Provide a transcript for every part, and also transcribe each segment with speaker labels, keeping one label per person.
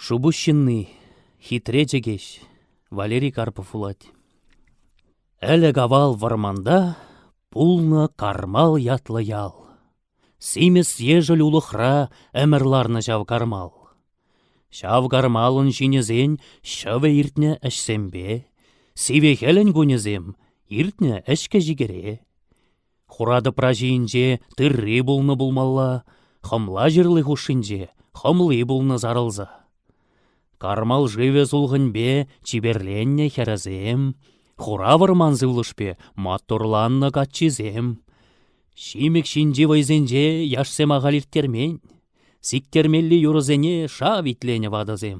Speaker 1: Шупуҫ ҫынни, хитре чӗкеҫ Валерий Карпов вулать. Ӗлӗк-авал вӑрманта пулнӑ Кармал ятлӑ ял. Симӗс ешӗл улӑхра ӗмӗр ларнӑ ҫав кармал. Ҫав кармалӑн ҫинӗсен ҫӑвӗ иртнӗ ӗҫсемпе, сивӗ хӗлӗн кунӗсем иртнӗ ӗҫкӗ-ҫикӗре. Хура тӑпра ҫийӗнче тырри пулнӑ пулмалла, хӑмла ҫырли хушшинче хӑмли пулнӑ сарӑлса. Кармал шывӗ сулхӑнпе чиперленнӗ хӗрӗсем, хура вӑрман сывлӑшпе маттурланнӑ каччисем. Ҫимӗк ҫинчи вӑйсенче яшсем ахаль ирттермен, сиктермелли юрӑсене шав итленӗ ватӑсем.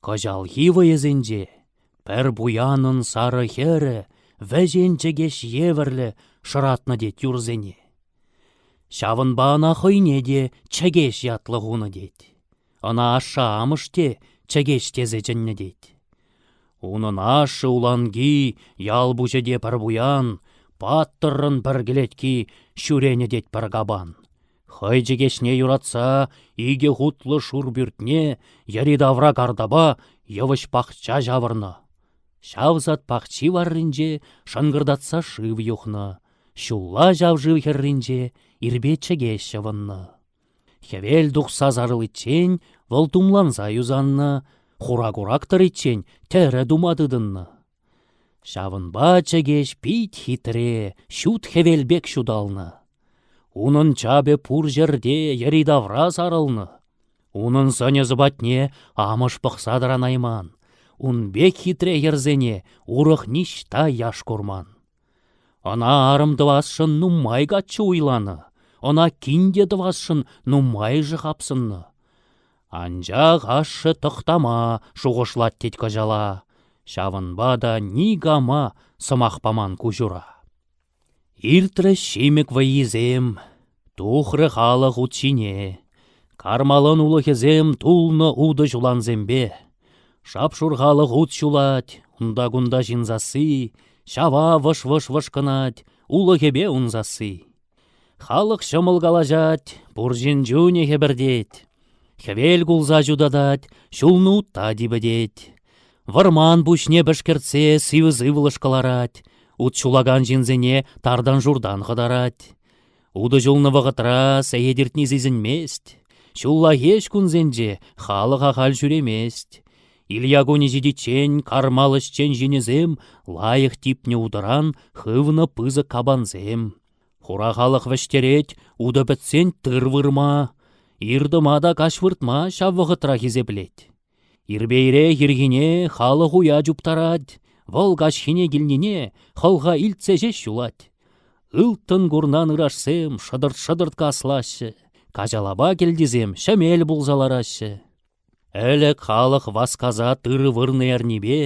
Speaker 1: Кӑҫалхи вӑйӑсенче пӗр пуянӑн сарӑ хӗрӗ вӗҫен чӗкеҫ евӗрлӗ шӑратнӑ тет юрсене. Ҫавӑнпа ӑна хӑйне те чӗкеҫ ятлӑ хунӑ тет. Ӑна ашшӗ-амӑш те чӗкеҫ тесе чӗннӗ тет. Унӑн ашшӗ Уланки ял пуҫӗ те пӗр пуян, паттӑррӑн пӗр кӗлетки ҫӳренӗ тет пӗр капан. Хӑй чӗкеҫне юратса икӗ хутлӑ шур пӳртне йӗри-тавра картапа йывӑҫ пахча ҫавӑрнӑ. Ҫав сад пахчи варринче шӑнкӑртатса шыв юхнӑ, ҫулла ҫав шыв хӗрринче ирпе чӗкеҫ ҫӑвӑннӑ. Хӗвел тухса сарӑличчен вӑл тумланса юсаннӑ, хура курак тӑриччен тӗрӗ тума тытӑннӑ. Ҫавӑнпа чӗкеҫ пит хитре ҫут хӗвел пек ҫуталнӑ. Унӑн чапӗ пур ҫӗрте йӗри-тавра сарӑлнӑ. Унӑн сӑнӗ-сӑпатне амӑш пӑхса тӑранайман. Ун пек хитре йӗрсене урӑх ниҫта яш курман. Ӑна арӑм тӑвасшӑн нумай каччӑ уйланӑ, ӑна кин те тӑвасшӑн нумайӑшӗ хапсӑннӑ. Анчах ашшӗ тӑхтама шухӑшлать тет кӑҫала, ҫавӑнпа та никама сӑмах паман куҫура. Иртрӗҫ ҫимӗк вӑййисем, тухрӗ халӑх ут ҫине, кармалан улӑхӗсем тулнӑ утӑ ҫулансемпе. Шап-шур халӑх ут ҫулать, унта-кунта ҫын сасси, ҫава вӑш-вӑш вӑшкӑнать, улӑхӗпе ун сасси. Халӑх ҫӑмӑл калаҫать, пур ҫын чунӗ хӗпӗртет. Хӗвел кулса ҫутатать, ҫулну утта типӗтет. Вӑрман пуҫне пӗшкӗртсе сивӗ-сывлӑш кӑларать, ут ҫулакан ҫынсене тартан-шуртан хӑтарать. Утӑ ҫулнӑ вӑхӑтра сехет иртни сисӗнмест. Ҫуллахи ӗҫ кунсенче халӑх ахаль ҫӳремест. Илья кунӗ ҫитиччен кармал ӗҫчен ҫынӗсем лайӑх типнӗ утӑран хывнӑ пысӑк капансем. Хура халӑх вӗҫтерет утӑ пӗтсен тыр вырма, иртӑма та каҫ выртма ҫав вӑхӑтра хисеплет. Ирпейрех ирхине халӑх уя чуптарать, вӑл каҫхине килнине хӑлха илтсе ҫеҫ юлать. Ылтӑн курнан ырашсем шӑтӑрт-шӑтӑрт каслаҫҫӗ, каҫалапа кӗлтисем ҫӗмел пулса лараҫҫӗ. Ӗлӗк халӑх васкаса тырӑ вырнӑ эрнипе,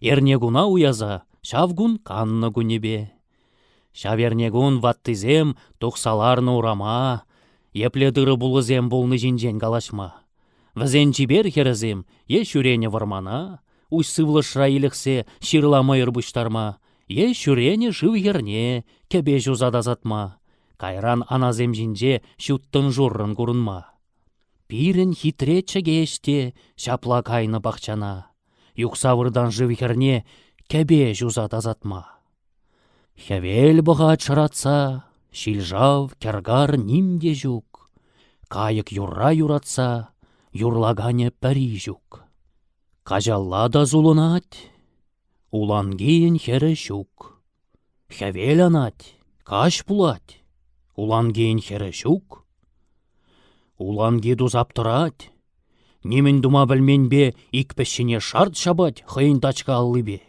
Speaker 1: эрнекуна уяса ҫав кун каннӑ кунӗпе. Ҫав эрнекун ваттисем тухса ларнӑ урама, епле тырӑ-пулӑсем пулни ҫинчен калаҫма, вӗсен чипер хӗрӗсем е ҫӳренӗ вӑрмана уҫ сывлӑшра илӗхсе ҫырла мӑйӑр пуҫтарма, е ҫӳренӗ шыв хӗрне кӗпе ҫуса тасатма, кайран анасем ҫинче ҫуттӑн-шуррӑн курӑнма. Пирӗн хитре чӗкеҫ те ҫапла кайнӑ пахчана, юхса выртан шыв хӗрне кӗпе ҫуса тасатма. Хӗвел пӑхать шӑратса, ҫил-шав, кӗр-кар ним те ҫук. Кайӑк юрра юратса, юрлаканӗ пӗри ҫук. Каҫалла та сулӑнать, Улангийӗн хӗрӗ ҫук. Хӗвел анать, каҫ пулать. Улангийӗн хӗрӗ ҫук. Уланги тусап тӑрать. Нимӗн тума пӗлменпе ик пӗҫҫине шарт ҫапать хӑйӗн тачка аллипе.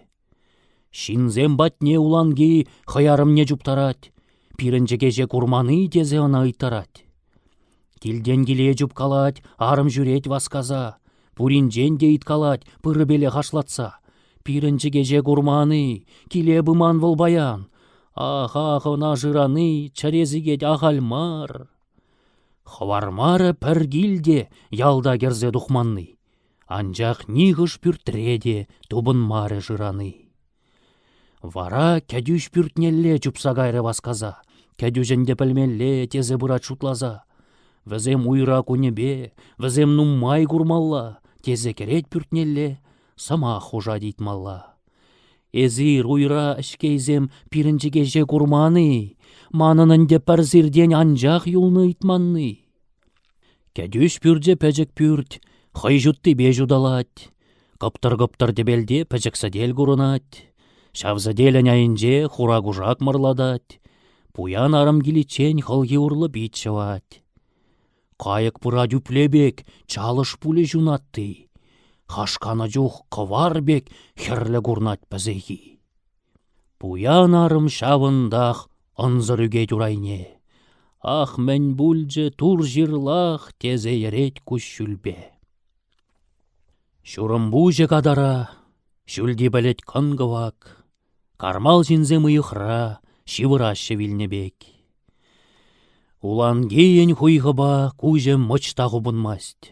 Speaker 1: Ҫынсем патне Уланги хӑй арӑмне чуптарать. Пирӗн чӗкеҫе курман-и тесе ӑна ыйттарать. Килтен киле чупкалать, арӑм ҫӳрет васкаса. Пуринчен те ыйткалать пырӑпелех ашлатса. Пирӗн чӗкеҫе курман-и, киле пыман вӑл паян. Ах, ах, ӑна шырани чӗре сикет ахаль мар. Хӑвармарӗ пӗр кил те ялта кӗрсе тухманни. Анчах нихӑш пӳртре те тупӑнмарӗ шырани. Вара кӗтӳҫ пӳртнелле чупса кайрӗ васкаса. Кӗтӳҫ ӗнтӗ пӗлмелле тесе пырать шутласа. Вӗсем уйра кунӗпе, вӗсем нумай курмалла, тесе кӗрет пӳртнелле, сӑмах хушать ыйтмалла. Эсир, уйра ӗҫкейсем, пирӗн чӗкеҫе курман-и? Манӑн ӗнтӗ пӗр сиртен анчах юлнӑ ыйтманни. Кӗтӳҫ пӳрчӗ пӗчӗк пӳрт, хӑй ҫуттипе ҫуталать. Кӑптӑр-кӑптӑр тӗпелте пӗчӗк сӗтел курӑнать. Ҫав сӗтелӗн айӗнче хура кушак мӑрлатать. Пуян арӑм киличчен хӑлхи урлӑ пит ҫӑвать. Кайӑк пырать ӳпле пек, чалӑш пулӗ ҫунатти. Хашканӑ чух кӑвар пек хӗрлӗ курнать пӗсехи. Пуян арӑм ҫавӑнтах ӑнсӑр ӳкет урайне. Ах, мӗн пулчӗ тур ҫырлах, тесе йӗрет куҫҫульпе. Ҫурӑмпуҫӗ катара, ҫӳлти пӗлӗт кӑн-кӑвак. Кармал ҫынсем уйӑхра ҫывӑраҫҫӗ вилнӗ пек. Улангийӗн хуйхӑпа куҫӗ мӑчта хупӑнмасть.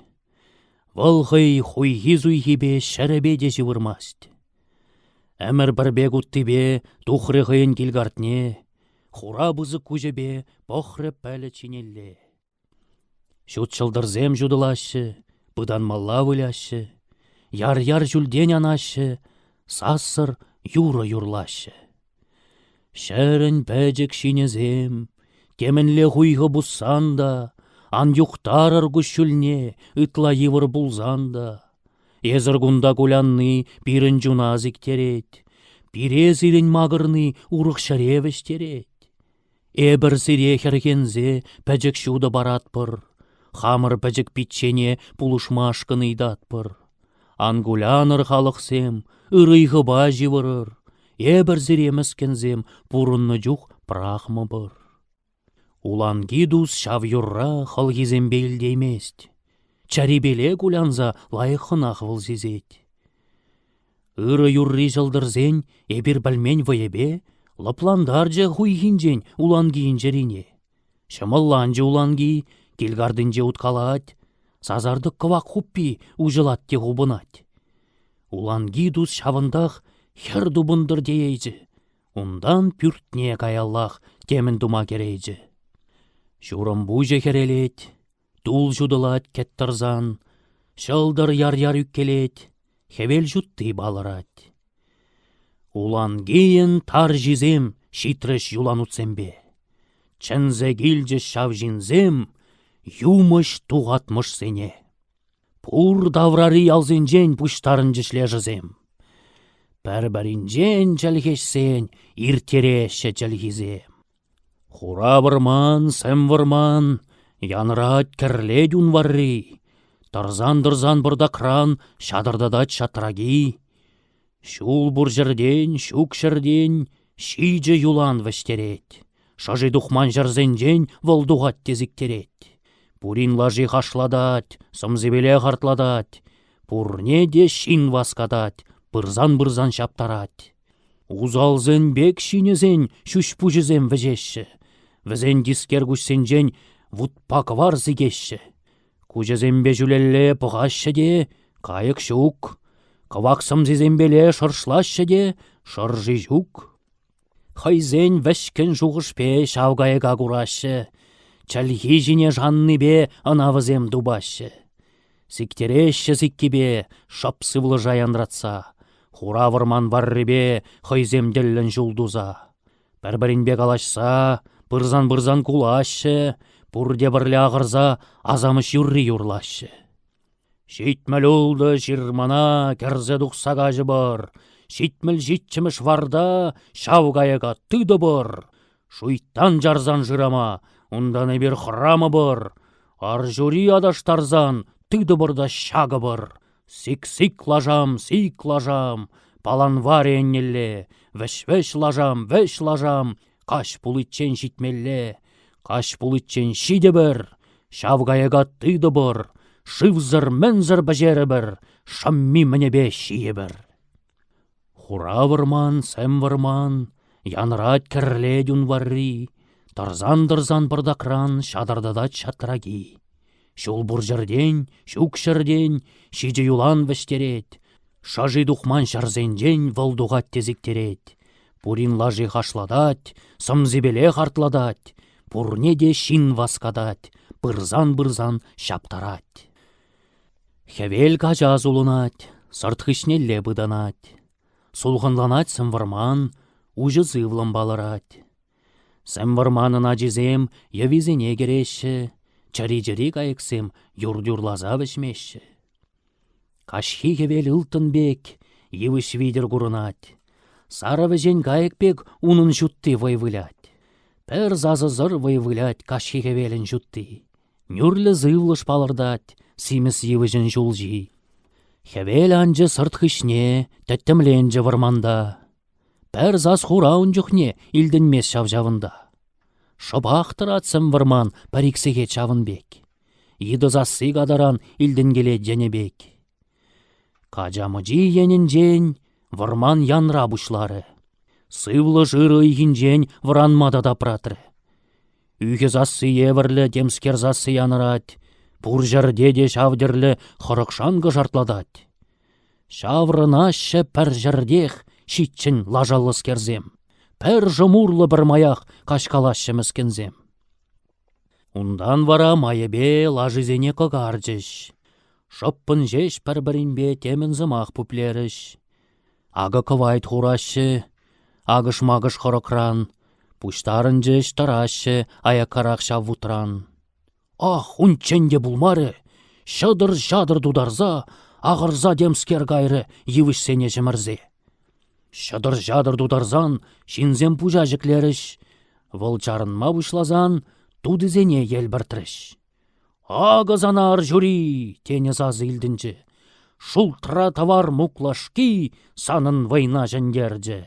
Speaker 1: Вӑл хӑй хуйхи-суйхипе ҫӗрӗпе те ҫывӑрмасть. Ӗмӗр пӗр пек уттипе тухрӗ хӑйӗн кил-картне, хура пысӑк куҫӗпе пӑхрӗ пӗлӗт ҫинелле. Ҫут ҫӑлтӑрсем ҫутӑлаҫҫӗ, пытанмалла выляҫҫӗ, яр-яр ҫӳлтен анаҫҫӗ, сассӑр юрӑ юрлаҫҫӗ. Ҫӗрӗн пӗчӗк ҫинӗсем, темӗнле хуйхӑ пуссан та, ан юхтарӑр куҫҫульне ытла йывӑр пулсан та. Эсӗр кунта кулянни пирӗн чуна сиктерет, пире сирӗн макӑрни урӑх ҫӗре вӗҫтерет. Эпӗр сире, хӗрхенсе, пӗчӗк ҫутӑ паратпӑр, хамӑр пӗчӗк пиччене пулӑшмашкӑн ыйтатпӑр. Ан кулянӑр, халӑхсем, ырӑйхӑпа ҫывӑрӑр, эпӗр сире, мӗскӗнсем, пурӑннӑ чух пӑрахмӑпӑр. Уланки тус ҫав юрра хӑлхисемпе илтеймест, чӗрипеле кулянса лайӑххӑнах вӑл сисет. Ырӑ юрри ҫӑлтӑрсен эпир пӗлмен вӑйӗпе лӑплантарчӗ хуйхинчен уланкийӗн чӗрине. Ҫӑмӑлланчӗ уланки, кил картинче уткалать, сасартӑк кӑвак хуппи уҫӑлать те хупӑнать. Уланки тус ҫавӑнтах хӗр тупӑнтӑр теейчӗ, унтан пӳртне каяллах темӗн тума кӗрейчӗ. Ҫурӑм пуҫӗ хӗрелет. Тул ҫутӑлать кӗт тӑрсан, ҫӑлтӑр яр-яр ӳккелет, хӗвел ҫутти палӑрать. Улангийӗн тарҫисем ҫитрӗҫ юланутсемпе. Чӗнсе килчӗҫ ҫав ҫынсем юмӑҫ-тухатмӑшсене. Пур таврари ялсенчен пуҫтарӑнчӗҫ лешӗсем. Пӗр-пӗринчен чӗлхешсен ирттереҫҫӗ чӗлхисем. Хура вӑрман, сӗм вӑрман, янрать, кӗрлет ун варри. Тӑрсан-тӑрсан пӑртакран ҫатӑртатать ҫатраки. Ҫул пур ҫӗртен, ҫук ҫӗртен ҫичӗ юлан вӗҫтерет. Шӑши тухман ҫӗрсенчен вӑл тухать те сиктерет. Пурин лаши хашлатать, сӑмсипеле хартлатать. Пурне те ҫын васкатать, пырсан-пырсан ҫаптарать. Усалсен пек ҫинӗсен ҫӳҫ-пуҫӗсем вӗҫеҫҫӗ, вӗсен тискер куҫсенчен вутпа кӑвар сикеҫҫӗ. Куҫӗсемпе ҫӳлелле пӑхаҫҫӗ те кайӑк ҫук, кӑвак сӑмсисемпеле шӑршлаҫҫӗ те шӑрши ҫук. Хӑйсен вӗҫкӗн шухӑшпе ҫав кайӑка кураҫҫӗ, чӗлхи ҫине шаннипе ӑна вӗсем тупаҫҫӗ. Сиктереҫҫӗ сиккипе шӑп сывлӑша янратса, Хура вӑрман варрипе хӑйсем тӗллӗн ҫул туса. Пӗр-пӗринпе калаҫса, пырсан-пырсан кулаҫҫӗ, пурте пӗрле ахӑрса асамӑш юрри юрлаҫҫӗ. «Ҫитмӗл ултӑ ҫырмана кӗрсе тухса каҫӑпӑр, Ҫитмӗл ҫиччӗмӗш варта ҫав кайӑка тытӑпӑр!» Шуйттан чарсан шырама, унтан эпир хӑрамӑпӑр, арҫури аташтарсан тытӑпӑр та ҫакӑпӑр. Сик-сик лашам, сик лашам, паланварӗ еннелле, вӗҫ-вӗҫ лашам, вӗҫ лашам, каҫ пуличчен ҫитмелле, каҫ пуличчен ҫитӗпӗр, ҫав кайӑка тытӑпӑр, шывсӑр-мӗнсӗр пӗҫерӗпӗр, шӑмми-мӗнӗпе ҫийӗпӗр. Хура вӑрман, сӗм вӑрман, Янрать кӗрлет ун варри, Тӑрсан-тӑрсан пӑртакран Ҫатӑртатать ҫатраки. Ҫул пур ҫӗртен, ҫук ҫӗртен Ҫичӗ юлан вӗҫтерет, Шӑши тухман ҫӗрсенчен Вӑл тухать те сиктерет. Пурин лаши хашлатать, Сӑмсипелех артлатать, Пурне те ҫын васкатать, Пырсан-пырсан ҫаптарать. Хӗвел кача сулӑнать, сӑрт хыҫнелле пытанать. Сулхӑнланать сӗмвӑрман, уҫӑ сывлӑм палӑрать. Сӗмвӑрманӑн ачисем йӑвисене кӗреҫҫӗ, чӗри-чӗри кайӑксем юрт юрласа вӗҫмеҫҫӗ. Каҫхи хӗвел ылтӑн пек, йывӑҫ витӗр курӑнать. Сарӑ вӗҫен кайӑк пек унӑн ҫутти вӑй вылять. Пӗр сасӑсӑр вӑй вылять каҫхи хӗвелӗн ҫутти. нӳрлӗ сывлӑш палӑртать симӗс йывӑҫӑн ҫулҫи. Хӗвел анчӗ сӑрт хыҫне, тӗттӗмленчӗ вӑрманта. Пӗр сас хура ун чухне илтӗнмест ҫав ҫавӑнта. Шӑпах тӑрать сӗм вӑрман пӗр-ик сехет ҫавӑн пек. Йытӑ сасси катаран илтӗнкелет йӗнӗ пек. Кача мучи енӗнчен вӑрман янра пуҫларӗ, сывлӑш ырӑ ыйхинчен вӑранма та тапратрӗ. Ӳхӗ сасси евӗрлӗ темскер сасси янӑрать, пур ҫӗрте те ҫав тӗрлӗ хӑрӑк-шанкӑ шартлатать. Ҫаврӑнаҫҫӗ пӗр ҫӗртех ҫиччӗн лашаллӑскерсем, пӗр шӑмурлӑ пӗрмаях каҫкалаҫҫӗ мӗскӗнсем. Унтан вара майӗпе лашисене кӑкарчӗҫ. Шӑппӑн ҫеҫ пӗр-пӗринпе темӗн сӑмах пуплерӗҫ. Акӑ кӑвайт хураҫҫӗ, акӑш-макӑш хӑрӑкран, пуҫтарӑнчӗҫ, тӑраҫҫӗ аяккарах ҫав вутран. Ах, унччен те пулмарӗ, ҫӑтӑр-ҫатӑр тутарса, ахӑрса темскер кайрӗ йывӑҫсене ҫӗмӗрсе. Ҫӑтӑр-ҫатӑр тутарсан ҫынсем пуҫа ҫӗклерӗҫ, вӑл чарӑнма пуҫласан тутисене елпӗртрӗҫ. «Акӑ сана ар ҫури!» — тенӗ сасӑ илтӗнчӗ. Шултра тӑвар муклашки санӑн вӑйна ҫӗнтерчӗ.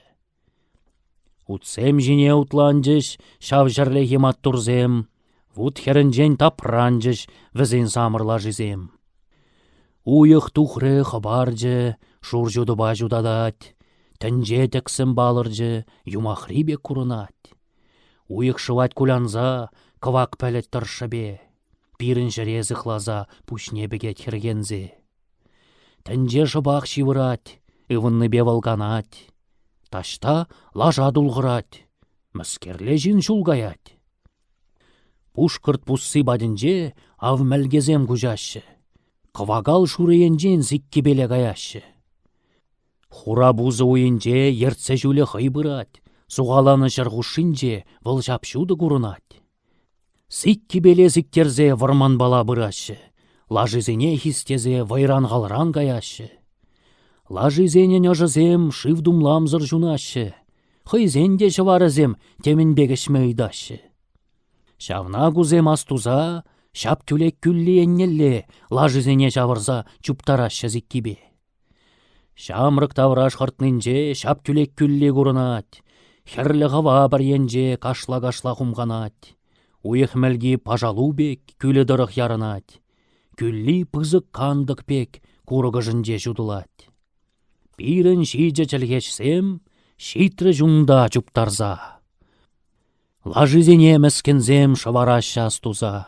Speaker 1: Утсем ҫине утланчӗҫ ҫав ҫӗрлехи маттурсем. Вут хӗрӗнчен тапранчӗҫ вӗсен самӑр лашисем. Уйӑх тухрӗ, хӑпарчӗ, шур ҫутӑпа ҫутатать, тӗнче тӗксӗм палӑрчӗ, юмахри пек курӑнать. Уйӑх шӑвать кулянса, кӑвак пӗлӗт тӑршшӗпе, пирӗн ҫӗре сыхласа пуҫне пӗкет хӗрхенсе. Тӗнче шӑпах ҫывӑрать, ывӑннипе вӑл канать. Таҫта лаша тулхӑрать, мӗскерле ҫын ҫул каять. Пушкӑрт пусси патӗнче ав мӗлкесем куҫаҫҫӗ, кӑвакал шурӑ енчен сиккипеле каяҫҫӗ. Хура пусӑ уйӗнче ертсе ҫулӗ хӑй пырать, сухаланӑ ҫӗр хушшинче вӑл ҫап-ҫутӑ курӑнать. Сиккипеле сиктерсе вӑрманпала пыраҫҫӗ, лашисене хистесе вӑйран-халран каяҫҫӗ. Лашисенӗн ӑшӗсем шыв тумламсӑр ҫунаҫҫӗ, хӑйсен те ҫӑварӗсем темӗн пек ӗҫме ыйтаҫҫӗ. Ҫавна кусем астуса ҫап тӳлек кӳлли еннелле лашисене ҫавӑрса чуптараҫҫӗ сиккипе. Ҫамрӑк тавраш хӑртнинче ҫап тӳлек кӳлли курӑнать, хӗрлӗ хӑва пӗр енче кашла-кашла хумханать, уйӑх мӗлки пашалу пек кӳлӗ тӑрӑх ярӑнать, кӳлли пысӑк кантӑк пек курӑкӑшӗнче ҫутӑлать. Пирӗн ҫичӗ чӗлхеҫсем ҫитрӗҫ унта чуптарса. Лашисене мӗскӗнсем шӑвараҫҫӗ астуса.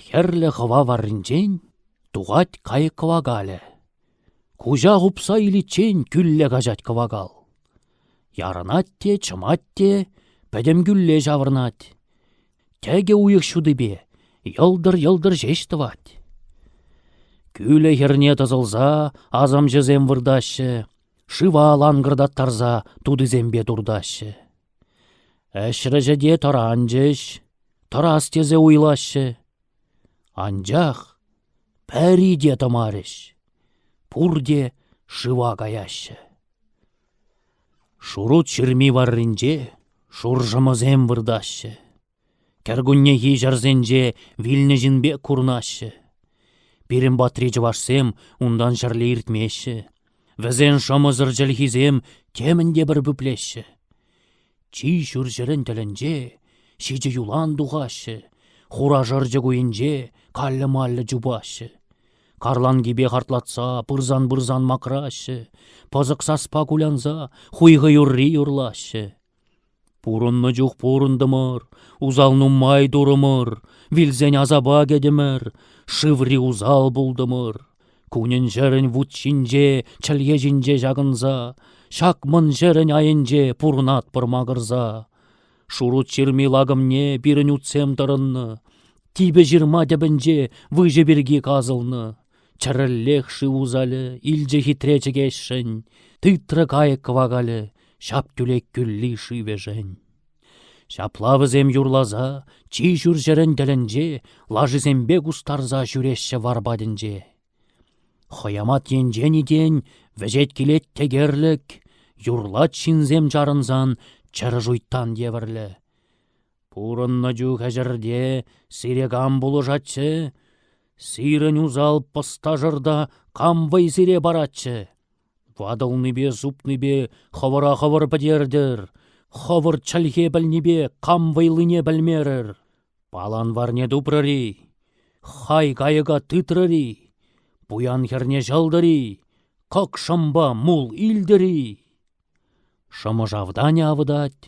Speaker 1: Хӗрлӗ хӑва варринчен тухать кайӑк кӑвакалӗ. Куҫа хупса иличчен кӳлле каҫать кӑвакал. Ярӑнать те, чӑмать те, пӗтӗм кӳлле ҫаврӑнать. Тӗкӗ уйӑх ҫутипе йӑлтӑр-йӑлтӑр ҫеҫ тӑвать. Кӳлӗ хӗрне тӑсӑлса асамҫӑсем выртаҫҫӗ, шыва ланкӑртаттарса тутисемпе туртаҫҫӗ. Ӗҫрӗҫӗ те тӑранчӗҫ, тӑрас тесе уйлаҫҫӗ. Анчах пӗри те тӑмарӗҫ, пурте шыва каяҫҫӗ. Шурут ҫырми варринче шуршӑмӑсем выртаҫҫӗ. Кӗркуннехи ҫӗрсенче вилнӗ ҫын пек курӑнаҫҫӗ. Пирӗн патри чӑвашсем унтан ҫӗрле иртмеҫҫӗ. Вӗсен шӑмӑсӑр чӗлхисем темӗн те пӗр пӳплеҫҫӗ. Чи ҫурҫӗрӗн тӗлӗнче ҫичӗ юлан тухаҫҫӗ, хура шӑрчӑк уйӗнче каллӗ-маллӗ чупаҫҫӗ. Карланкипе хартлатса пырсан-пырсан макраҫҫӗ, пӑсӑк саспа кулянса хуйхӑ юрри юрлаҫҫӗ. Пурӑннӑ чух пурӑнтӑмӑр, усал нумай турӑмӑр, вилсен асапа кӗтӗмӗр, шыври усал пултӑмӑр. Кунӗн-ҫӗрӗн вут ҫинче, чӗлхе ҫинче ҫакӑнса, ҫак-мӑн ҫӗрӗн айӗнче пурӑнатпӑр макӑрса. Шурут ҫырми лакӑмне пирӗн утсем тӑрӑннӑ, типӗ ҫырма тӗпӗнче выҫӑ пирки касӑлнӑ. Чӗрӗллех шыв усалӗ, илчӗ хитре чӗкеҫшӗн, Тытрӗ кайӑк кӑвакалӗ, ҫап-тӳлек кӳлли шывӗшӗн. Ҫапла вӗсем юрласа чи ҫурҫӗрӗн тӗлӗнче лашисемпе кустарса ҫӳреҫҫӗ вар патӗнче. Хӑямат енчен итен вӗҫет килет текерлӗк, юрлать ҫынсем чарӑнсан чӗрӗ шуйттан евӗрлӗ. Пурӑннӑ чух ӗҫӗрте сире кам пулӑшатчӗ? Сирӗн усал пӑсташӑрта кам вӑй сире паратчӗ? Ватӑлнипе супнипе хӑвӑра хӑвӑр пӗтертӗр, хӑвӑр чӗлхе пӗлнипе кам вӑйлине пӗлмерӗр? Паланварне тупрӑр-и? Хай кайӑка тытрӑр-и? Пуян хӗрне ҫӑлтӑр-и? Кӑкшӑмпа мул илтӗр-и? Шӑмӑршавтанӗ авӑтать,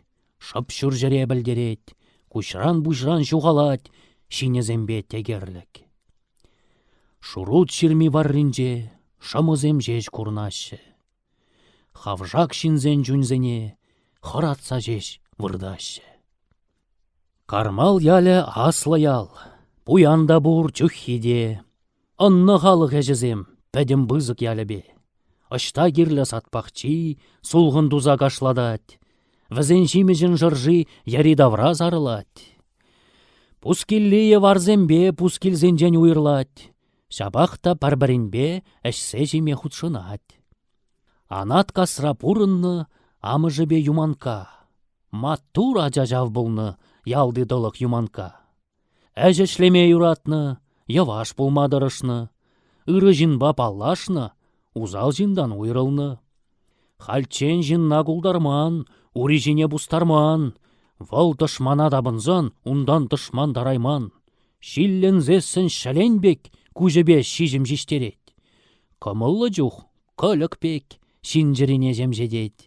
Speaker 1: шӑп ҫурҫӗре пӗлтерет, куҫран-пуҫран ҫухалать ҫинӗсемпе текерлӗк. Шурут ҫырми варринче шӑмӑсем ҫеҫ курӑнаҫҫӗ. Хавшак ҫынсен чунсене хӑратса ҫеҫ выртаҫҫӗ. Кармал ялӗ аслӑ ял. Пуян та пур чуххи те. Ӑннӑ халӑх ӗҫӗсем пӗтӗм пысӑк ялӗпе. Ӑҫта кирлӗ сад пахчи, сулхӑн туса кашлатать. Вӗсен ҫимӗҫӗн шӑрши йӗри-тавра сарӑлать. Пускилли йӑварсемпе пускилсенчен уйӑрлать. Ҫапах та пӗр-пӗринпе ӗҫсе ҫиме хутшӑнать. Анат касра пурӑннӑ амӑшӗпе Юманкка. Маттур ача ҫав пулнӑ ялти тӑлӑх Юманкка. Ӗҫ ӗҫлеме юратнӑ, йӑваш пулма тӑрӑшнӑ. Ырӑ ҫынпа паллашнӑ, усал ҫынтан уйрӑлнӑ. Хальччен ҫынна култарман, ури ҫине пустарман. Вӑл тӑшмана тапӑнсан унтан тӑшман тарайман. Ҫилленсессӗн ҫӗлен пек куҫӗпе ҫиҫӗм ҫиҫтерет. Кӑмӑллӑ чух кӑлӗк пек ҫын чӗрине ҫемҫетет.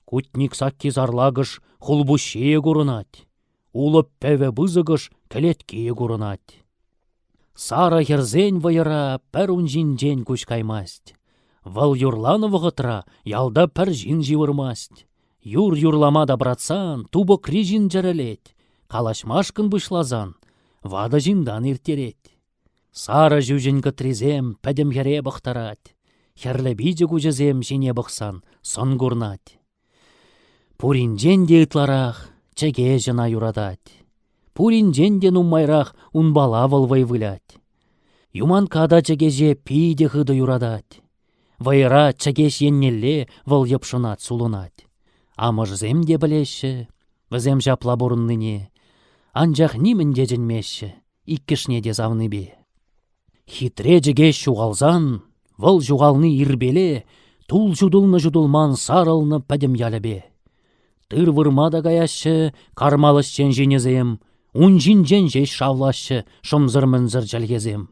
Speaker 1: Кутник сакки сарлакӑш хулпуҫҫийӗ курӑнать. Улӑп пӗвӗ пысӑкӑш кӗлеткийӗ курӑнать. Сарӑ хӗрсен вӑйӑра пӗр ун ҫинчен куҫ каймасть. Вӑл юрланӑ вӑхӑтра ялта пӗр ҫын ҫывӑрмасть. Юр юрлама тапратсан тупӑкри ҫын чӗрӗлет, калаҫмашкӑн пуҫласан ватӑ ҫынтан ирттерет. Сарӑ ҫӳҫӗн кӑтрисем пӗтӗм хӗре пӑхтарать, хӗрлӗ пичӗ куҫӗсем ҫине пӑхсан сӑн курнать. Пуринчен те ытларах чӗке ҫӑна юратать. Пуринчен те нумайрах унпала вӑл вӑй вылять. Юманкка та чӗкеҫе питӗ хытӑ юратать. Вӑйӑра Чӗкеҫ еннелле вӑл йӑпшӑнать-сулӑнать. Амӑшӗсем те пӗлеҫҫӗ вӗсем ҫапла пурӑннине, анчах нимӗн те чӗнмеҫҫӗ иккӗшне те савнипе. Хитре Чӗкеҫ ҫухалсан вӑл ҫухални ирпеле тул ҫутӑлнӑ-ҫутӑлман сарӑлнӑ пӗтӗм ялӗпе. Тыр вырма та каяҫҫӗ кармал ӗҫчен ҫинӗсем, ун ҫинчен ҫеҫ шавлаҫҫӗ шӑмсӑр-мӗнсӗр чӗлхесем.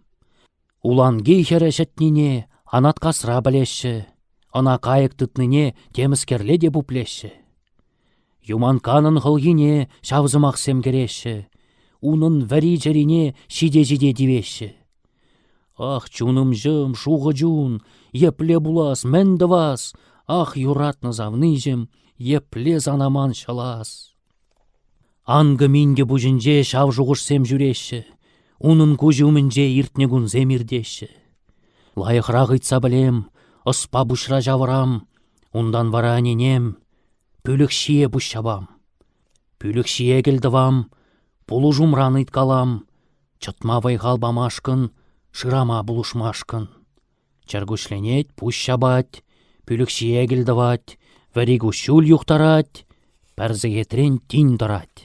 Speaker 1: Уланки хӗрӗ ҫӗтнине Анаткасра пӗлеҫҫӗ, ӑна кайӑк тытнине темӗскерле те пуплеҫҫӗ. Юманканӑн хӑлхине ҫав сӑмахсем кӗреҫҫӗ, унӑн вӗри-чӗрине ҫите-ҫите тивеҫҫӗ. Ах, чунӑмҫӑм, шухӑ чун, епле пулас, мӗн тӑвас, ах, юратнӑ савниҫӗм, епле санаман ҫӑлас! Анкӑ-минкӗ пуҫӗнче ҫав шухӑшсем ҫӳреҫҫӗ, унӑн куҫӗ умӗнче иртнӗ кунсем иртеҫҫӗ. Лайӑхрах ыйтса пӗлем, ӑспа пуҫра ҫавӑрам, унтан вара ӗненем, пӳлӗх ҫие пуҫ ҫапам. Пӳлӗх ҫие кӗлтӑвам, пулӑшумран ыйткалам, чӑтма вӑй-хал памашкӑн, шырама пулӑшмашкӑн. Чӗркуҫленет, пуҫ ҫапать, пӳлӗх ҫиекӗл тӑвать, вӗри куҫҫуль юхтарать, пӗр сехетрен тин тӑрать.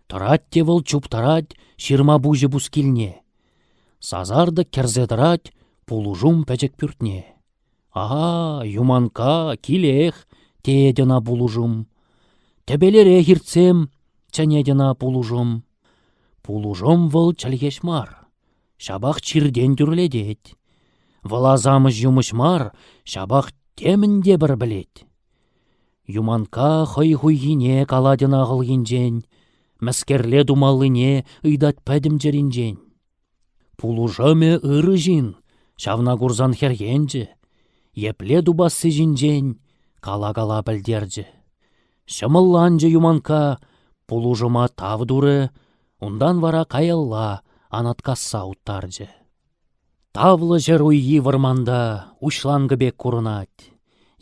Speaker 1: Тӑрать те вӑл чуптарать ҫырма пуҫӗ пускилне. Сасартӑк кӗрсе тӑрать пулӑшум пӗчӗк пӳртне. «А, Юманкка, килех!» теет ӑна пулӑшум. «Тӗпелерех иртсем!» чӗнет ӑна пулӑшум. Пулӑшум вӑл чӗлхеҫ мар. ҫапах чиртен тӳрлетет. Вӑл асамӑш-юмӑҫ мар, ҫапах темӗн те пӗр пӗлет. Юманкка хӑй хуйхине калать ӑна хӑлхинчен, мӗскерле тумаллине ыйтать пӗтӗм чӗринчен. Пулӑшӑмӗ ырӑ ҫын, ҫавна курсан хӗрхенчӗ, епле тупасси ҫинчен кала-кала пӗлтерчӗ. Ҫӑмӑлланчӗ Юманкка, пулӑшӑма тав турӗ, Унтан вара каялла Анаткасса уттарчӗ. Тавлӑ ҫӗр уййи вӑрманта уҫланкӑ пек курӑнать,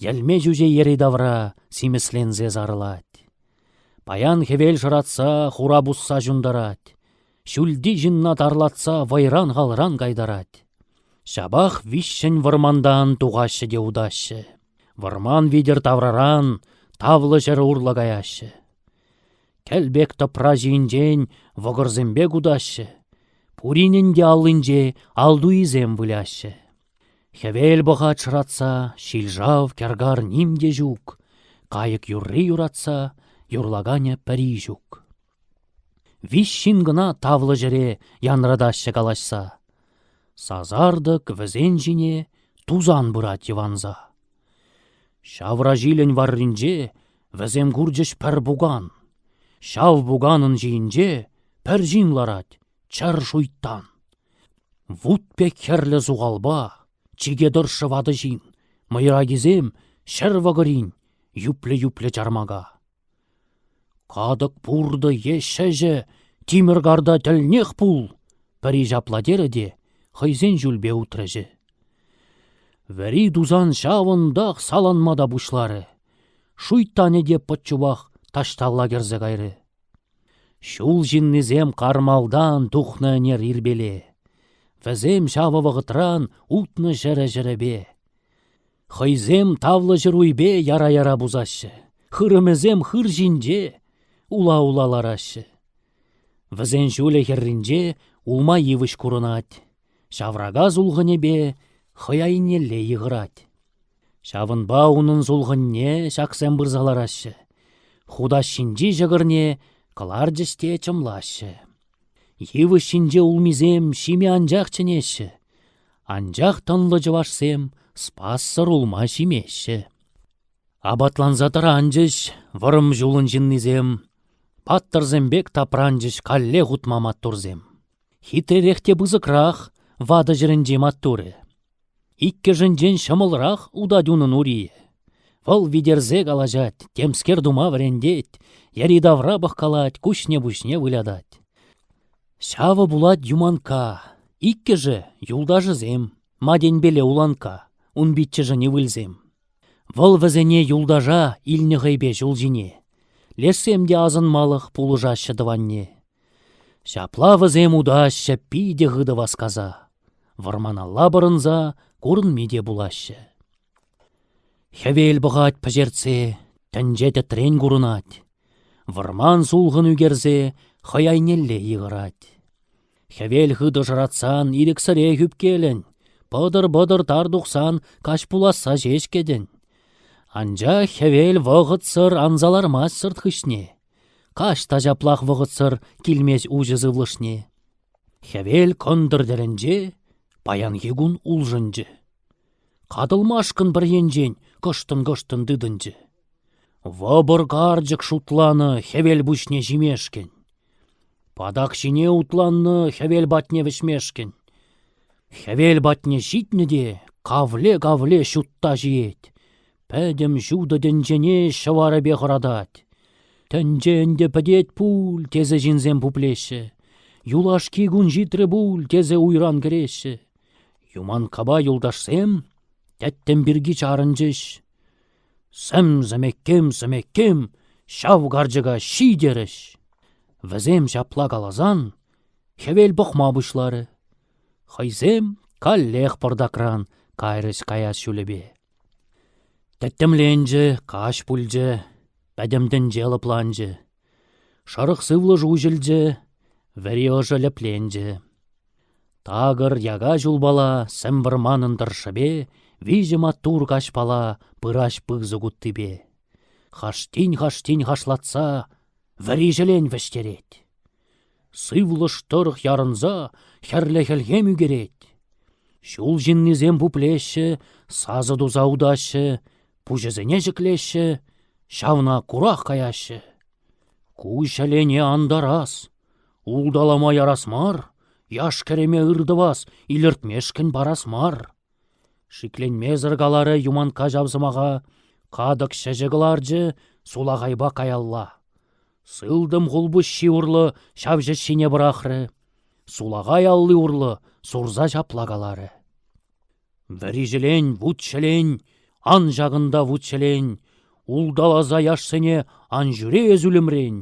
Speaker 1: йӗлме чӳче йӗри-тавра симӗсленсе сарӑлать. Паян хӗвел шӑратса хура пусса ҫунтарать, ҫӳлти ҫынна тарлатса вӑйран-халран кайтарать. Ҫапах виҫҫӗн вӑрмантан тухаҫҫӗ те утаҫҫӗ. Вӑрман витӗр тавраран тавлӑ ҫӗр урлӑ каяҫҫӗ. Кӗл пек тӑпра ҫийӗнчен вӑкӑрсемпе кутаҫҫӗ, пуринӗн те аллинче ал туйисем выляҫҫӗ. Хӗвел пӑхать шӑратса, ҫил-шав, кӗркар ним те ҫук, кайӑк юрри юратса юрлаканӗ пӗри ҫук. Виҫ ҫын кӑна тавлӑ ҫӗре янратаҫҫӗ калаҫса. Сасартӑк вӗсен ҫине тусан пырать йӑванса. Ҫавраҫилӗн варринче Вӗсем курчӗҫ пӗр пукан. Ҫав пуканӑн ҫийӗнче пӗр ҫын ларать — чӗр шуйттан. Вут пек хӗрлӗ сухалпа, чике тӑршшӗ ватӑ ҫын, мӑйракисем ҫӗр вӑкӑрин юплӗ-юплӗ чармака. «Катӑк пуртӑ е ҫӗҫӗ тимӗр карта тӗлнех пул!» пӗри ҫапла терӗ те хӑйсен ҫулпе утрӗҫӗ. Вӗри тусан ҫавӑнтах саланма та пуҫларӗ. Шуйттанӗ те пӑт чупах таҫталла кӗрсе кайрӗ. Ҫул ҫыннисем кармалтан тухнӑ ӗнер ирпеле. Вӗсем ҫавӑ вӑхӑтран утнӑ ҫӗрӗ-ҫӗрӗпе. Хӑйсем тавлӑ ҫыруйпе яра-яра пусаҫҫӗ, хырӑмӗсем хыр ҫинче ула-ула лараҫҫӗ. Вӗсен ҫулӗ хӗрринче улма йывӑҫ курӑнать, ҫаврака сулхӑнӗпе хӑй айнелле йыхӑрать. Ҫавӑнпа унӑн сулхӑнне ҫаксем пырса лараҫҫӗ, хутаҫҫинчи ҫӑкӑрне кӑларчӗҫ те чӑмлаҫҫӗ. Йывӑҫ ҫинче улмисем ҫиме анчах чӗнеҫҫӗ, анчах тӑнлӑ чӑвашсем спассӑр улма ҫимеҫҫӗ. Апатланса тӑранчӗҫ вӑрӑм ҫулӑн ҫыннисем, паттӑрсем пек тапранчӗҫ калле хутма маттурсем. Хитререх те пысӑкрах ватӑ ҫӗрӗнчи маттурӗ. Иккӗшӗнчен ҫӑмӑлрах утать унӑн ури. Вӑл витерсе калаҫать, темскер тума вӗрентет, йӗри-тавра пӑхкалать, куҫне-пуҫне вылятать. Ҫавӑ пулать Юманкка. Иккӗшӗ — юлташӗсем, Матенпеле Уланкка, ун пиччӗшӗн ывӑлсем. Вӑл вӗсене юлташа илнӗ хӑйпе ҫул ҫине. Лешсем те асӑнмалӑх пулӑшаҫҫӗ тӑванне. Ҫапла вӗсем утаҫҫӗ питӗ хытӑ васкаса, вӑрманалла пӑрӑнса курӑнми те пулаҫҫӗ. Хӗвел пӑхать пӗҫертсе, тӗнче тӗтрен курӑнать, вӑрман сулхӑн ӳкерсе хӑй айнелле йыхӑрать. Хӗвел хытӑ шӑратсан ирӗксӗрех ӳпкелӗн, пӑтӑр-пӑтӑр тар тухсан каҫ пуласса ҫеҫ кӗтӗн. Анчах хӗвел вӑхӑтсӑр анса лармасть сӑрт хыҫне. Каҫ та ҫаплах вӑхӑтсӑр килмест уҫӑ сывлӑшне. Хӗвел кӑнтӑр тӗлӗнче паянхи кун улшӑнчӗ. Катӑлмашкӑн пӗр енчен кӑштӑн-кӑштӑн тытӑнчӗ. Вӑпӑр карчӑк шутланӑ хӗвел пуҫне ҫимешкӗн. Патак ҫине утланнӑ хӗвел патне вӗҫмешкӗн. Хӗвел патне ҫитнӗ те кавле-кавле ҫутта ҫиет. Пӗтӗм ҫутӑ тӗнчене ҫӑварӗпе хӑратать. Тӗнче ӗнтӗ пӗтет пуль тесе ҫынсем пуплеҫҫӗ. Юлашки кун ҫитрӗ пуль тесе уйран кӗреҫҫӗ. Юманккапа юлташсем тӗттӗм пирки чарӑнчӗҫ. Сӗм-сӗмеккем-сӗмеккем ҫав карчӑка ҫи терӗҫ. Вӗсем ҫапла каласан хӗвел пӑхма пуҫларӗ. Хӑйсем каллех пӑртакран кайрӗҫ каяс ҫулӗпе. Тӗттӗмленчӗ, каҫ пулчӗ, пӗтӗм тӗнче лӑпланчӗ. Шӑрӑх сывлӑш уҫӑлчӗ, вӗри ӑшӑ лӗпленчӗ. Такӑр яка ҫулпала сӗм вӑрманӑн тӑршшӗпе виҫӗ маттур каҫпала пырать пысӑк уттипе. Хаштин-хаштин хашлатса вӗри ҫӗлен вӗҫтерет. Сывлӑш тӑрӑх ярӑнса хӗрлӗ хӗлхем ӳкерет. Ҫул ҫыннисем пуплеҫҫӗ, сасӑ туса утаҫҫӗ, пуҫӗсене ҫӗклеҫҫӗ, ҫавна курах каяҫҫӗ. Ку ҫӗлене антарас, улталама ярас мар, яш-кӗрӗме ыр тӑвас, илӗртмешкӗн парас мар. Шикленмесӗр каларӗ Юманкка ҫав сӑмаха, катӑк ҫӗҫӗ кӑларчӗ сулахайпа каялла. Сылтӑм хулпуҫҫи урлӑ ҫав ҫӗҫҫине пӑрахрӗ, сулахай алли урлӑ сурса ҫапла каларӗ: Вӗри ҫӗлен, вут ҫӗлен, ан ҫакӑнта вут ҫӗлен, улталаса яшсене ан ҫӳре эс ӳлӗмрен.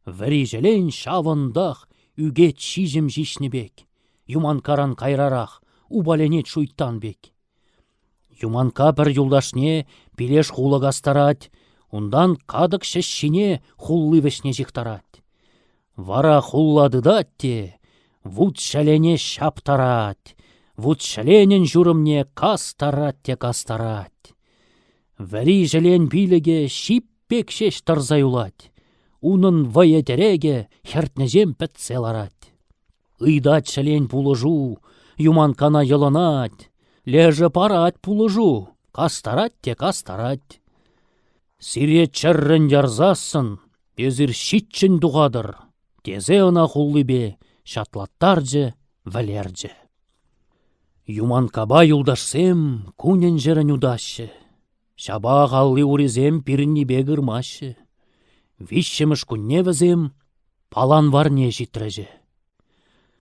Speaker 1: Вӗри-ҫӗлен ҫавӑнтах ӳкет ҫиҫӗм ҫиҫнӗ пек, Юманккаран кайрарах упаленет шуйттан пек. Юманкка пӗр юлташне пилеш хулӑ кастарать, унтан катӑк ҫӗҫҫине хулли вӗҫне ҫыхтарать. Вара хулла тытать те вут-ҫӗлене ҫаптарать, вут-ҫӗленӗн ҫурӑмне кастарать те кастарать. Вӗри ҫӗлен пилӗкӗ ҫип пек ҫеҫ тӑрса юлать. Унӑн вӑйӑ-тӗрекӗ хӗртнӗҫем пӗтсе ларать. Ыйтать ҫӗлен пулӑшу, юманккана йӑлӑнать. Лешӗ парать пулӑшу, кастарать те кастарать. Сире чӗррӗн ярсассӑн эсир ҫиччӗн тухатӑр, тесе ӑна хуллипе ҫатлаттарчӗ, вӗлерчӗ. Юманккапа юлташсем кунӗн-ҫӗрӗн утаҫҫӗ. Ҫапах алли-урисем пирӗннипе кырмаҫҫӗ. Виҫҫӗмӗш кунне вӗсем паланварне ҫитрӗҫӗ.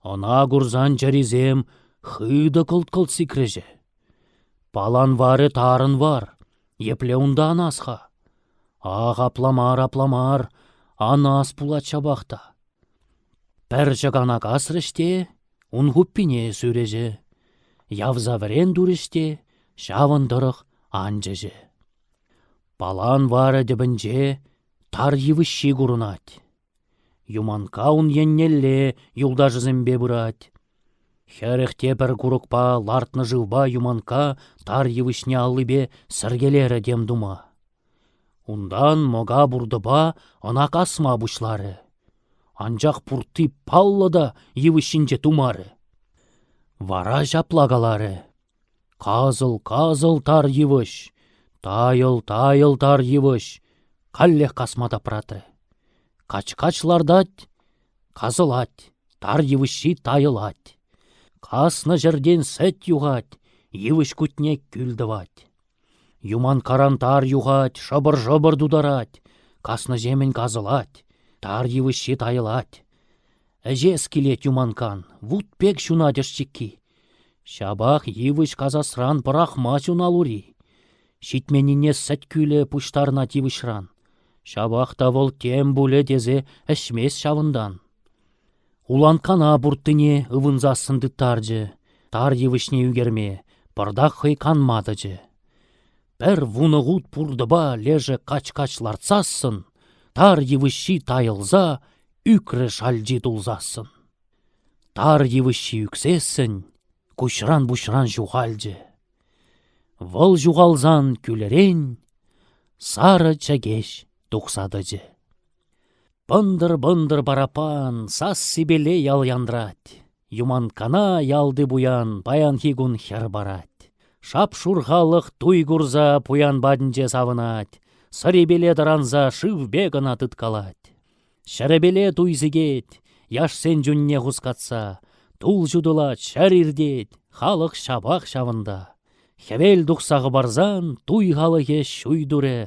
Speaker 1: Ӑна курсан чӗрисем хытӑ кӑлт-кӑлт сикрӗҫӗ. Паланварӗ тарӑн вар, епле унта анас-ха? Ах, апла мар, апла мар, анас пулать ҫапах та. Пӗр чӑкана касрӗҫ те ун хуппине сӳрӗҫӗ. Явса вӗрен турӗҫ те ҫавӑн тӑрӑх анчӑчӗ. Палан варӗ тӗпӗнче тар йывӑҫҫи курӑнать. Юманкка ун еннелле юлташӗсемпе пырать. Хӗрӗх те пӗр курӑкпа лартнӑ шывпа Юманкка тар йывӑҫне аллипе сӗркелерӗ тем тума. Унтан мӑка пуртӑпа ӑна касма пуҫларӗ. Анчах пуртти паллӑ та йывӑҫ ҫинче тумарӗ. Вара ҫапла каларӗ: Касӑл-касӑл тар йывӑҫ, тайӑл-тайӑл тар йывӑҫ каллех касма тапратрӗ. Кач-кач лартать, касӑлать, тар йывӑҫҫи тайӑлать. Каснӑ ҫӗртен сӗт юхать, йывӑҫ кутне кӳл тӑвать. Юманкаран тар юхать, шӑпӑр-шӑпӑр тутарать, каснӑҫемӗн касӑлать, тар йывӑҫҫи тайӑлать. Ӗҫес килет Юманкан, вут пек ҫунать ӑшчикки. Ҫапах йывӑҫ касасран пӑрахмасть уналури. Ҫитменнине сӗт кӳлӗ пуҫтарӑнать йывӑҫран. Ҫапах та вӑл тем пулӗ тесе ӗҫмест ҫавӑнтан. Уланккана пурттине ывӑнсассӑн тыттарчӗ, тар йывӑҫне ӳкерме пӑртак хӑй канма тӑчӗ. Пӗр вунӑ хут пуртӑпа лешӗ кач-кач лартсассӑн, тар йывӑҫҫи тайӑлса, ӳкрӗ шалчи тулсассӑн. Тар йывӑҫҫи ӳксессӗн, куҫран-пуҫран ҫухалчӗ. Вӑл ҫухалсан кӳлӗрен сарӑ чӗкеҫ тухса тӑчӗ. Пӑнтӑр-пӑнтӑр параппан сас-сипеле ял янрать. Юманккана ялти пуян паянхи кун хӗр парать. Шап-шур халӑх туй курса пуян патӗнче савӑнать. Сӑрипеле тӑранса шывпе кӑна тыткалать. Ҫӗрӗпеле туй сикет, яшсен чунне хускатса. Тул ҫутӑлать, ҫӗр иртет, халӑх ҫапах ҫавӑнта. Хӗвел тухса хӑпарсан туй халӑхӗ ҫуй турӗ,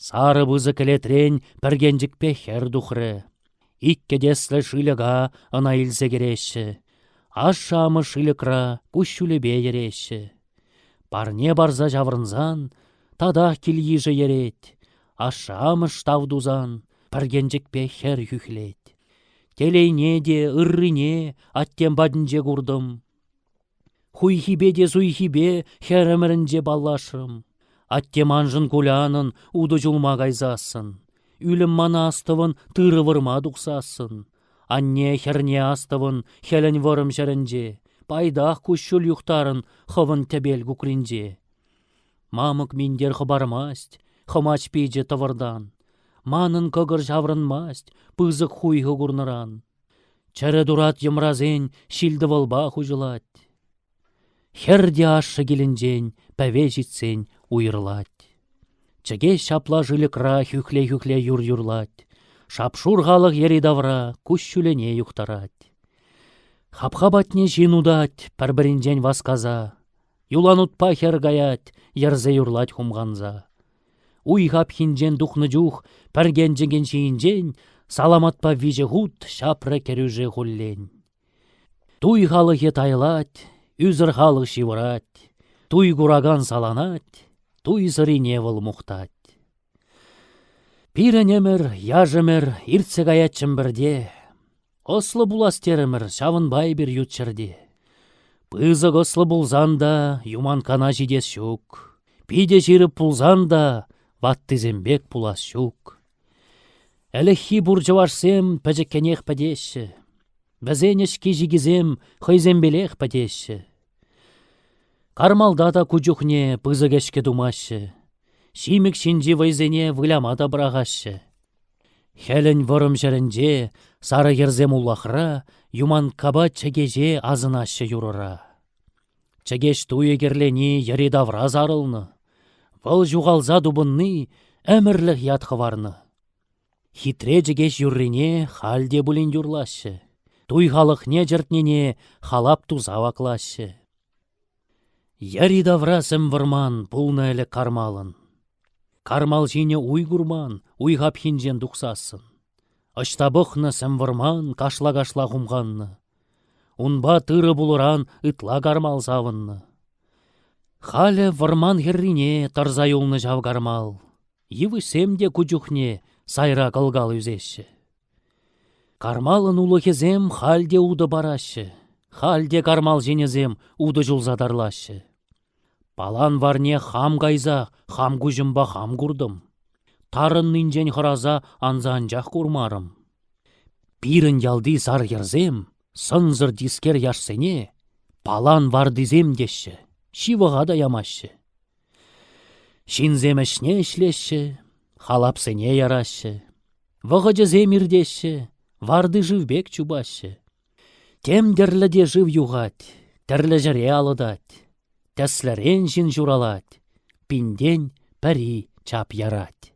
Speaker 1: сарӑ пысӑк кӗлетрен пӗркенчӗкпе хӗр тухрӗ. Иккӗ тӗслӗ шыльӑка ӑна илсе кӗреҫҫӗ, ашшӗ-амӑш шыльӑкра куҫҫулӗпе йӗреҫҫӗ. Парне парса ҫаврӑнсан татах кил-йышӗ йӗрет, ашшӗ-амӑш тав тусан пӗркенчӗкпе хӗр хӳхлет. Телейне те ыррине аттем патӗнче куртӑм. Хуйхипе те суйхипе хӗрӗмӗрӗнче паллашрӑм. Атте маншӑн кулянӑн утӑ чулма кайсассӑн, ӳлӗм мана астӑвӑн тырӑ вырма тухсассӑн, анне хӗрне астӑвӑн хӗлӗн вӑрӑм ҫӗрӗнче, пайтах куҫҫуль юхтарӑн хӑвӑн тӗпел кукринче. Мамӑк минтер хӑпармасть, хӑмач пичӗ тӑвӑртан. Манӑн кӑкӑр ҫаврӑнмасть пысӑк хуйхӑ курнӑран. Чӗрӗ турат йӑмрасен ҫил-тӑвӑлпа хуҫӑлать. Хӗр те ашшӗ килӗнчен пӗве ҫитсен уйрӑлать. Чӗкеҫ ҫапла шыльӑкра хӳхле-хӳхле юр юрлать, шап-шур халӑх йӗри-тавра куҫҫӳлӗне юхтарать. Хапха патне ҫын утать пӗр-пӗринчен васкаса, юланутпа хӗр каять, йӗрсе юрлать хумханса. Уй-хапхинчен тухнӑ чух пӗркенчӗкӗн ҫийӗнчен саламатпа виҫӗ хут ҫапрӗ кӗрӳше хуллен. Туй халӑхӗ тайлать, ӳсӗр халӑх ҫывӑрать, туй куракан саланать, туйсӑрине вӑл мухтать. Пирӗн ӗмӗр, яш ӗмӗр иртсе каять Чӗмпӗрте. Ӑслӑ пулас терӗмӗр ҫавӑнпа эпир ют ҫӗрте. Пысӑк ӑслӑ пулсан та юманкана ҫитес ҫук. Питӗ ҫирӗп пулсан та ваттисем пек пулас ҫук. Ӗлӗкхи пур чӑвашсем пӗчӗккӗнех пӗтеҫҫӗ. Вӗсен ӗҫки-ҫикисем хӑйсемпелех пӗтеҫҫӗ. Кармалта та ку чухне пысӑк ӗҫкӗ тумаҫҫӗ. Ҫимӗк ҫинчи вӑйсене выляма та пӑрахаҫҫӗ. Хӗлӗн вӑрӑм ҫӗрӗнче сарӑ йӗрсем улахра Юманккапа Чӗкеҫе асӑнаҫҫӗ юрӑра. Чӗкеҫ туйӗ кӗрлени йӗри-тавра сарӑлнӑ, вӑл ҫухалса тупӑнни ӗмӗрлӗх ят хӑварнӑ. Хитре Чӗкеҫ юррине халь те пулин юрлаҫҫӗ, туй халӑхне чӗртнине халап туса ваклаҫҫӗ. Йӗри-тавра сӗм вӑрман пулнӑ ӗлӗк кармалӑн. Кармал ҫине уй курман, уй хапхинчен тухсассӑн. Ӑҫта пӑхнӑ сӗм вӑрман кашла-кашла хумханнӑ. Унпа тырӑ пулӑран ытла кармал савӑннӑ. Халӗ вӑрман хӗррине тӑрса юлнӑ ҫав кармал. Йывӑҫсем те ку чухне сайра кӑлкал ӳсеҫҫӗ. Кармалӑн улӑхӗсем халь те утӑ параҫҫӗ, халь те кармал ҫинӗсем утӑ ҫулса тарлаҫҫӗ. Палан варне хам кайса хам куҫӑмпа хам куртӑм. Тарӑннинчен хӑраса анса анчах курмарӑм. Пирӗн ялти сар хӗрсем сӑнсӑр тискер яшсене палан вартисем теҫҫӗ, ҫывӑха та ямаҫҫӗ. Ҫынсем ӗҫне ӗҫлеҫҫӗ, халапсене яраҫҫӗ, вӑхӑчӗсем иртеҫҫӗ, варти-шыв пек чупаҫҫӗ. Тем тӗрлӗ те шыв юхать, тӗрлӗ ҫӗре алӑтать, тӗслӗрен ҫын ҫуралать, пин-тен пӗри чап ярать.